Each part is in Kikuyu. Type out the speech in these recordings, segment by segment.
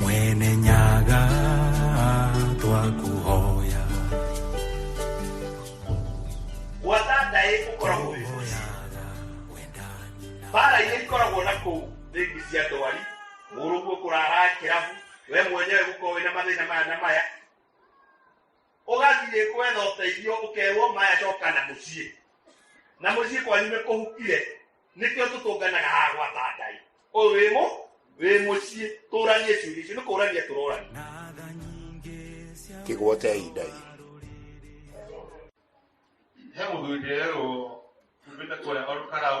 mwene nyaga twakuhoya wathandaĩ ũkoragwo wĩ mũciĩ bara iria ikoragwo na kũu rĩngĩ cia ndwari mũrũguo kũrara kĩrabu we mwenyewe gũkorwo wĩna mathĩna maya na maya ũgathiĩ kwetha ũteithio ũkerwo maya coka na mũciĩ na mũciĩ kwanyu nĩ kũhukire nĩkĩo tũtũnganaga haha gwata ngai ũyũ wĩ mũ wĩ mũciĩ tũranie ciũria icio nĩ kũrania tũrorania kĩgwota ya ihinda rĩrĩ he mũthuri nderwo umĩte kũrĩa orũkarau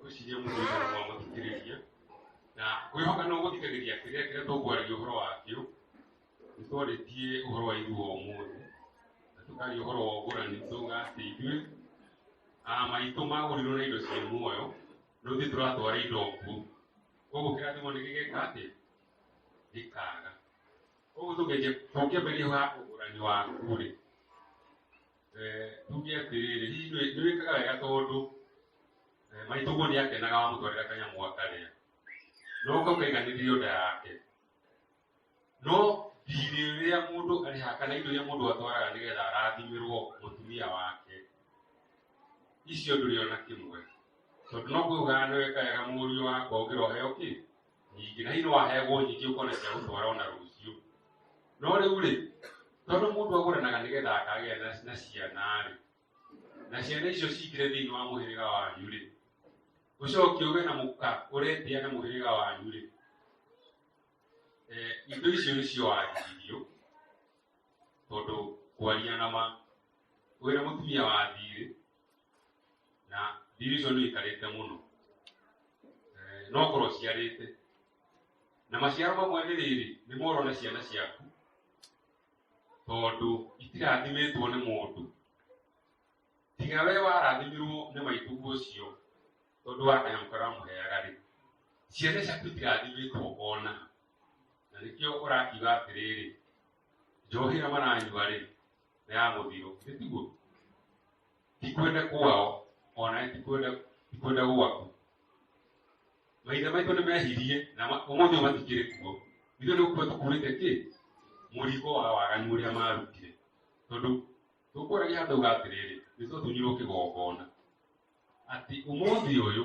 gwĩciria mũndũ ũcio nĩ mwamũthikĩrĩria na kwĩhoka no gũthikagĩria kĩrĩa kĩrĩa tũkwaragia ũhoro wakĩo nĩ twarĩtie ũhoro wa ithuo ũmũthĩ na tũkaria ũhoro wa ũgũrani tuga atĩ ithuĩ ah, maitũ magũrirwo na indo ciĩ muoyo no ithuĩ tũratwara indo nguo koguo kĩrathimo nĩ gĩgeka atĩ gĩkaga koguo tũkĩambĩrĩria ũgũrani waku rĩ tuge atĩrĩrĩ hihi nĩ- nĩ wĩkaga wega tondũ eh, maitũguo nĩ akenaga wamũtwarĩra kanyamũ akarĩa no ũka ũkaiganĩrĩrio nda yake no thirĩ ũrĩa mũndũ arĩhaga kana indo iria mũndũ atwaraga nĩgetha arathimĩrwo mũtumia wake icio ndũrĩ ona kĩmwe tondũ no kwĩhũgana nĩ weka wega mũriũ wakwa ũkĩra ũheo kĩ nyingĩ na ino wahegwo nyingĩ ũkona cia gũtwara ona rũciũ no rĩu rĩ tondũ mũndũ agũranaga nĩgetha akagĩa na- na ciana rĩ na ciana icio cingĩre thĩinĩ wa mũhĩrĩga wanyu rĩ ũcoke ũgĩe na mũka ũretĩa na mũhĩrĩga wanyu rĩ Eh, indo icio nĩcio wagiririo tondũ kwaria na ma wĩra mũtumia wa thiirĩ na division nĩ ikarĩte mũno Eh, no korwo ciarĩte na maciaro mamwe nĩ rĩrĩ nĩ moro na ciana ciaku tondũ itirathimĩtwo nĩ mũndũ tiga we warathimirwo nĩ maitũguo ũcio tondũ wa kanyamũ karamũheaga rĩ ciana ciaku itirathimĩtwo ona na nĩkĩo ũrakiuga atĩrĩrĩ njohi hamwe na anyua rĩ nĩ ya mũthiro nĩ tiguo tikwende kwao ona tikwende tikwende gwaku maithe maitũ nĩ mehirie na ma- ũmũthĩ matikĩrĩ kuo ithuĩ nĩ gũkua tũkuĩte kĩ mũrigo wa waganu ũrĩa marutire tondũ tũkũragia andũ uga atĩrĩrĩ nĩ tũtunyirwo kĩgongona atĩ ũmũthĩ ũyũ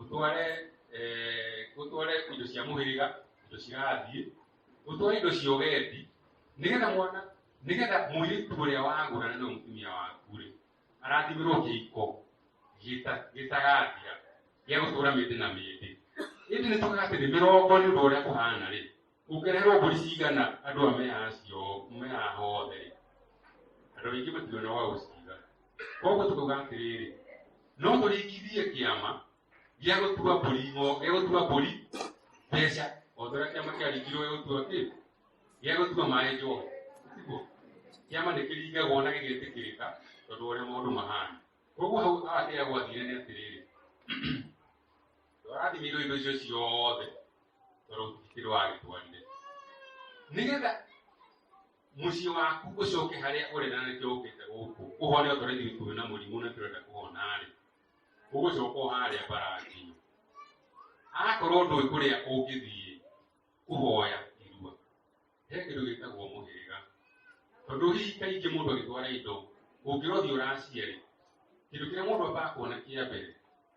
ũtware eh, ũtware indo cia mũhĩrĩga indo cirathiĩ ũtware indo cia ũgendi nĩgetha mwana nĩgetha mũirĩtu ũrĩa wagũrana na mũtumia waku rĩ arathimĩrwo kĩhiko gĩta- gĩtagathira gĩa gũtũra mĩndĩ na mĩndĩ ĩndĩ nĩ tũgaga atĩ nĩ mĩrongo nĩ ũndũ ũrĩa kũhana rĩ ũngĩreherwo mbũri cigana andũ a mea acio mea hothe andũ aingĩ mationa wa gũciga koguo tũkauga atĩrĩrĩ no tũrĩkithie kĩama gĩa gũtua mbũri ngo- gĩa gũtua mbũri mbeca o ta ũrĩa kĩama kĩarĩkirwo gĩa gũtua kĩ gĩa gũtua maĩ njohi tiguo kĩama nĩ kĩringagwo na gĩgetĩkĩrĩka tondũ ũrĩa maũndũ mahana koguo hau ateagwo athire nĩ atĩrĩrĩ arathimĩirwo indo icio ciothe tondũ kĩrĩ wagĩtwarire nĩgetha mũciĩ waku ũcoke harĩa ũrĩ na nĩkĩo ũkĩte gũkũ ũhone okorwo ithuĩ twĩ na mũrimũ na tũrenda kũhona-rĩ ũgũcoka o harĩa mbaranginyo akorwo ndũĩ kũrĩa ũngĩthiĩ kũhoya irua he kĩndũ gĩtagwo mũhĩrĩga tondũ hihi kaingĩ mũndũ agĩtwara indo ũngĩrothiĩ ũraciarĩ kĩndũ kĩrĩa mũndũ ambaga kuona kĩa mbere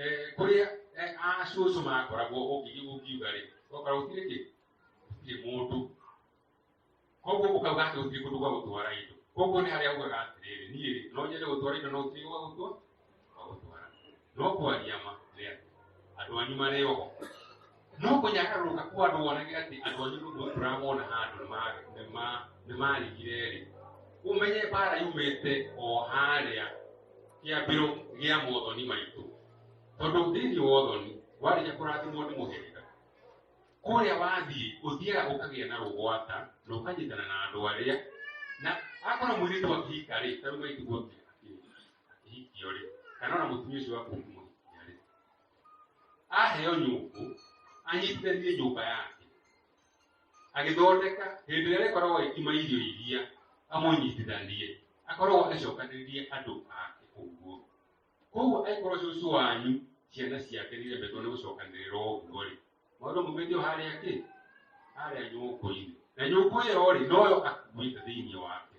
eh, kũrĩa eh, acũcũ makoragwo ũngĩthiĩ ũngiuga rĩ ũgakorwo gũtirĩ kĩ gũtirĩ mũndũ koguo ũkauga atĩ gũtirĩ kũndũ gwa gũtwara indo koguo nĩ harĩa ugaga atĩrĩrĩ niĩ rĩ no nyende gũtwara indo no gũtirĩ gwa gũtwa gwa gũtwara no kwaria ma nĩ atĩ andũ anyu marĩ oho no nginya agarũrũka kwa andũ wonage atĩ andũ anyu nũndũ tũramona handũ nĩma- nĩma- nĩmarigire-rĩ ũmenye mbara yumĩte o harĩa kĩambĩro gĩa mothoni maitũ tondũ thĩinĩ wa ũthoni warĩkia kũrathimwo nĩ mũhĩrĩga kũrĩa wathiĩ ũthiaga ũkagĩa na rũgwata na ũkanyitana na andũ arĩa na akorwo mũirĩtu akĩhika rĩ tarĩu maitiguo akĩhikio rĩ kana ona mũtumia ũcio waku ũkĩmũhikia rĩ aheo nyũngũ anyitithanie nyũmba yake agĩthondeka hĩndĩ ĩrĩa rĩkoragwo agĩkima irio iria amũnyitithanie akoragwo acokanĩrĩrie andũ ake ũguo koguo angĩkorwo cũcũ wanyu ciana ciake nĩiremetwo nĩ gũcokanĩrĩra ũguo rĩ maũndũ maumĩtio harĩa kĩ harĩa nyũngũ-inĩ na nyũngũ ĩyo rĩ noyo akuĩte thĩinĩ wake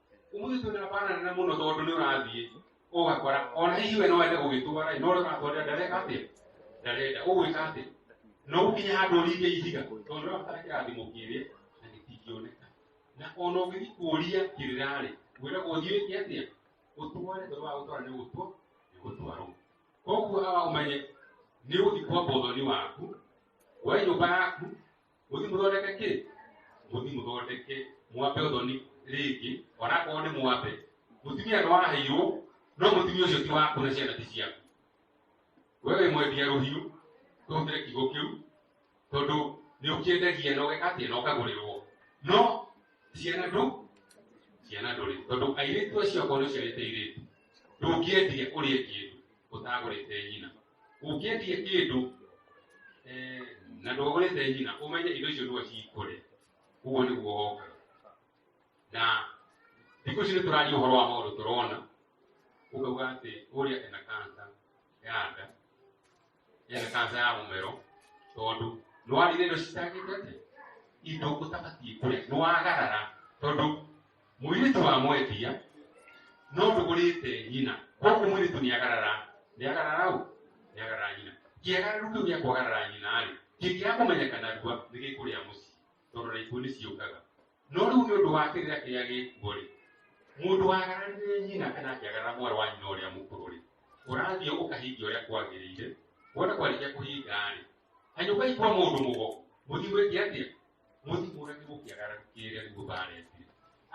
umuthi tu ndabana na muno tondu ni urathie ugakora ona hihi we no ende gugitwara no ria uratwarira ndareka atia ndarenda ugwika atia no ukinya handu uringe ihiga tondu ria utara kirathimo kiria na gitingioneka na ona ungithi kuria kirirari wira guthie ki atia utware tondu wa gutwara ni gutwa ni gutwarwo koguo awa umenye ni uthi kwa bothoni waku wa nyumba yaku muthi muthondeke ki muthi muthondeke ki mwape uthoni riki ona ko ni mwape mutumia no waheirwo no mutumia ucio ti waku na ciana ti ciaku wewe mwendia ruhiu tuhutire kigo kiu tondu ni ukiendagia na ugeka atia na ukagurirwo no ciana ndu ciana nduri tondu airitu acio akorwo ciarite iritu ndungĩendia ũrĩe kĩndũ ũtagũrĩte nyina ũngĩendie kĩndũ eh, na ndũgũrĩte nyina ũmenye indo icio nĩwe cikũrĩa ũguo nĩguo woka na thikũ ici nĩtũraria ũhoro wa maũndũ tũrona ũkauga atĩ ũrĩa ena kansa ya nda ena kansa ya mũmero tondũ nĩwarire indo citangĩte atĩ indo ũtabatiĩ kũrĩa nĩwagarara tondũ mũirĩtu wa mwendia no ndũgũrĩte nyina koguo mũirĩtu nĩ agarara nĩ agarara ũ nĩ agarara nyina kĩagararũ kĩu gĩa kwagarara nyina rĩ kĩngĩra kũmenyeka narua nĩ gĩkũrĩa mũciĩ tondũ na ikuũ nĩ ciũkaga no rĩu nĩ ũndũ wa kĩrĩa kĩrĩa gĩkuo rĩ mũndũ wagararire nyina kana akĩagarara mwarĩ wa nyina ũrĩa mũkũrũ rĩ ũrathiĩ ũkahingia ũrĩa kwagĩrĩire wona kwarĩkia kũhinga rĩ hanyũka ikwa mũndũ mũgo mũthiĩ gwĩke atĩa mũthimũre nĩ gũkĩagara kĩrĩa nĩguo baretie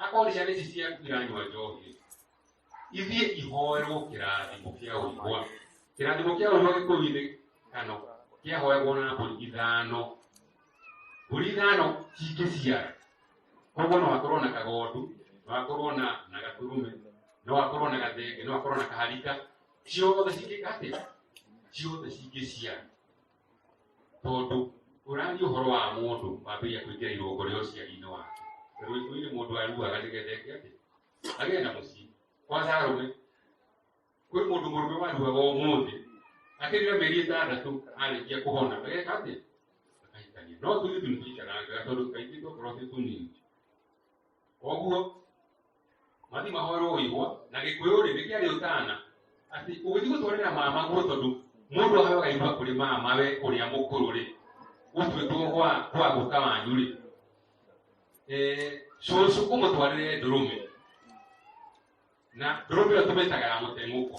akorwo ciana ici ciaku iranyua njohi ithiĩ ihoerwo kĩrathimo kĩa ũigwa kĩrathimo kĩa ũigwa gĩkũi-inĩ kano kĩahoegwo na mbũri ithano mbũri ithano cingĩciara koguo no hakorwo na kagondu no hakorwo na na gaturume no hakorwo na gathenge no hakorwo na kaharika ciothe cingĩka atĩa ciothe cingĩciara tondũ ũrathiĩ ũhoro wa mũndũ wambĩrĩria kũingĩra irũngo rĩa ũciari-inĩ wake rũitũ-inĩ mũndũ aruaga nĩgetha eke atĩ agĩe na mũciĩ kwanza arũme kwĩ mũndũ mũrũme waruaga ũmũthĩ akĩrĩra mĩeri ĩtandatũ arĩkia kũhona ageka atĩ akahikania no tũirĩtu nĩtũikaraga tondũ kaingĩ twakorwo twĩ tũnini koguo mathi mahorũirwo na gĩkũyũ rĩ nĩ kĩarĩ ũtana atĩ ũgĩthiĩ gũtwarĩra mama guo tondũ mũndũ ahoyaga iruga kũrĩ mama we ũrĩa mũkũrũ rĩ gũtuĩtwo gwa gwa gũka wanyu rĩ Eh, cũcũ ũmũtwarĩre ndũrũme na ndũrũme ĩyo tũmĩtaga ya mũteng'ũko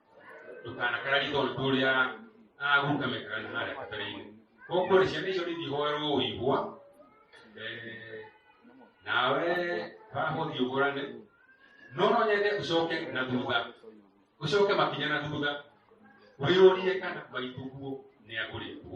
tukana karari igoro turia agukamekarani hare katarine kokore ciana icio nithihoerwo ũigua Eh, nawe bahũthi ũgũrane no no nyende ũcoke na thutha ũcoke makinya na thutha wĩyũrie kana maitũguo nĩ agũrĩtwo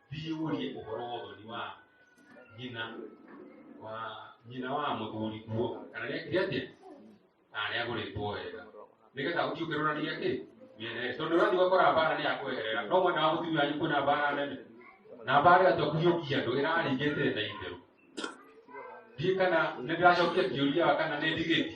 thiĩ ũrie ũhoro wa ũthoni wa nyina wa nyina wa mũthuri kuo kana nĩekire atĩa arĩa agũrĩtwo wega nĩgetha ũthiĩ ũkĩrũrania kĩ mĩerere tondũ ũrathiĩ ũgakora mbara nĩ yakweherera no mwena wa mũtumia wanyu kwĩna mbara nene na mbara ĩyo tokũhiũkia andũ ĩrarĩngĩte na itherũ ndiĩ kana nĩ ndĩracokia kĩũria wa kana nĩ ndigĩti